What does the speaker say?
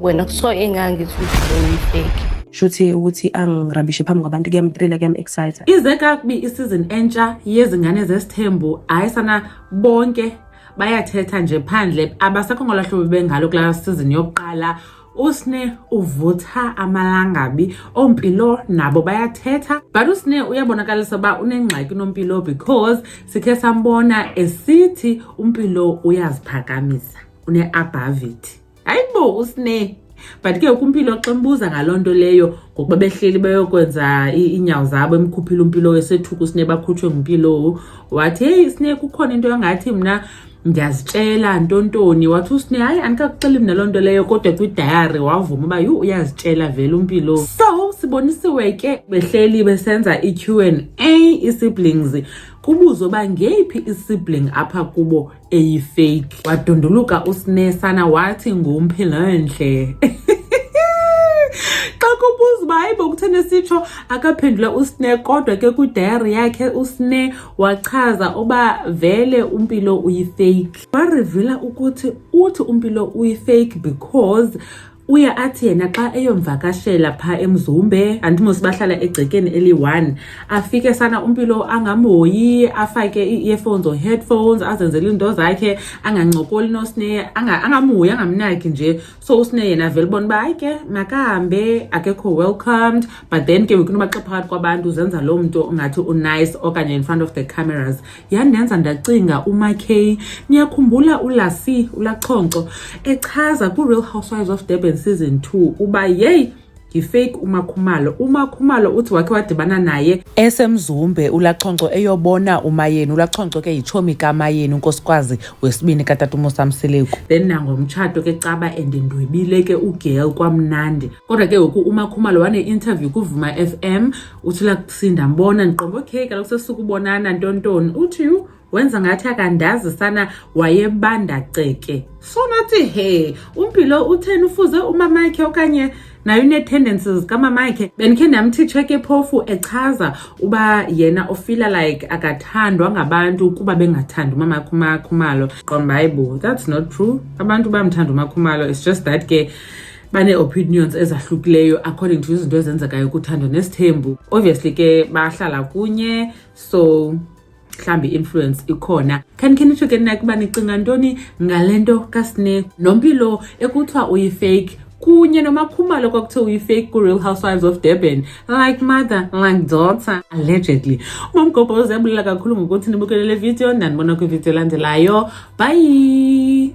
wena so engangithi uyifeki shuthi ukuthi angirabishe phambi kwabantu kuyamtrila kuyam-excita ize kakubi isizini entsha yezingane zesithembu hayi sana bonke bayathetha nje phandle abasekho ngolahlobo bengalo kulaa sizini yokuqala usne uvutha amalangabi ompilo nabo bayathetha but usne uyabonakalisa uba unengxaki nompilo because sikhe sambona esithi umpilo uyaziphakamisa une-abhavity hayi bo usne but ke ukumpilo xa mbuza ngaloo nto leyo ngokuba behleli beyokwenza iinyawo zabo emkhuphile umpilowo esethuka usne bakhutshwe ngumpilowo wathi heyi sne kukhona into engathi mna ndiyazitshela ntontoni wathi usne hayi andikakuxeli mna loo nto leyo kodwa kwidayari wavuma uba yhu uyazitshela vele umpilowo so sibonisiwe ke behleli besenza i-q and a ii-siblings kubuzo uba ngeyiphi i-sibling apha kubo eyifake wadunduluka usinesana wathi ngumphilandle xa kubuza uba hayibo kutheni esitsho akaphendula usne kodwa ke kwidayari yakhe usne wachaza uba vele umpilo uyifake warivila ukuthi uthi umpilo uyifake because uye athi yena xa eyomvakashela phaa emzumbe andimos bahlala egcekeni eliyi-one afike sana umpilo angamhoyi afake ii-earphones or headphones azenzele iinto zakhe angancokoli nosneye angamhoyi angamnaki nje so usneye yena avele ubona uba hayi ke makahambe akekho welcomed but then ke ngoku noba xa phakathi kwabantu zenza loo mntu ungathi unice okanye in front of the cameras yandenza ndacinga umakey niyakhumbula ulasi ulachonco echaza kwi-real housewives of durban season 2 uba yeyi yifake umakhumalo umakhumalo uthi wakhe wadibana naye esemzumbe ulachonco eyobona umayeni ulachonco ke yitshomi kamayeni unkosikwazi wesibini katata umusamseleku then nangomtshato ke caba and ndwebile ke ugirl kwamnandi kodwa ke ngoku umakhumalo wane-interview kuvuma f m uthi lakuthi ndambona ndiqonga okay kaloku sesukubonana ntontoni uthi yhu wenza ngathi akandazi sana wayebanda ceke so nathi he umpilo utheni ufuze umamakhe okanye nayo unee-tendencies kamamakhe bendikhe ndamthitsha ke phofu echaza uba yena ofila like akathandwa ngabantu ukuba bengathandi umamakhe umakhumalo qomba hayi bo that's not true abantu bamthanda umakhumalo it's just that ke banee-opinions ezahlukileyo according to izinto ezenzekayo kuthando nesithembu obviously ke bahlala kunye so mhlawumbi i-influence ikhona khanikhenitsho ke nina kuba nicinga ntoni ngale nto kasine nompilo ekuthiwa uyifake kunye nomakhumalo kwakuthe uyifake ku-real housewives of durban like mother like daughter allegedly umamgobho uzebulela kakhulu ngokuthi nibukele le video ndandibona kwividiyo elandelayo bye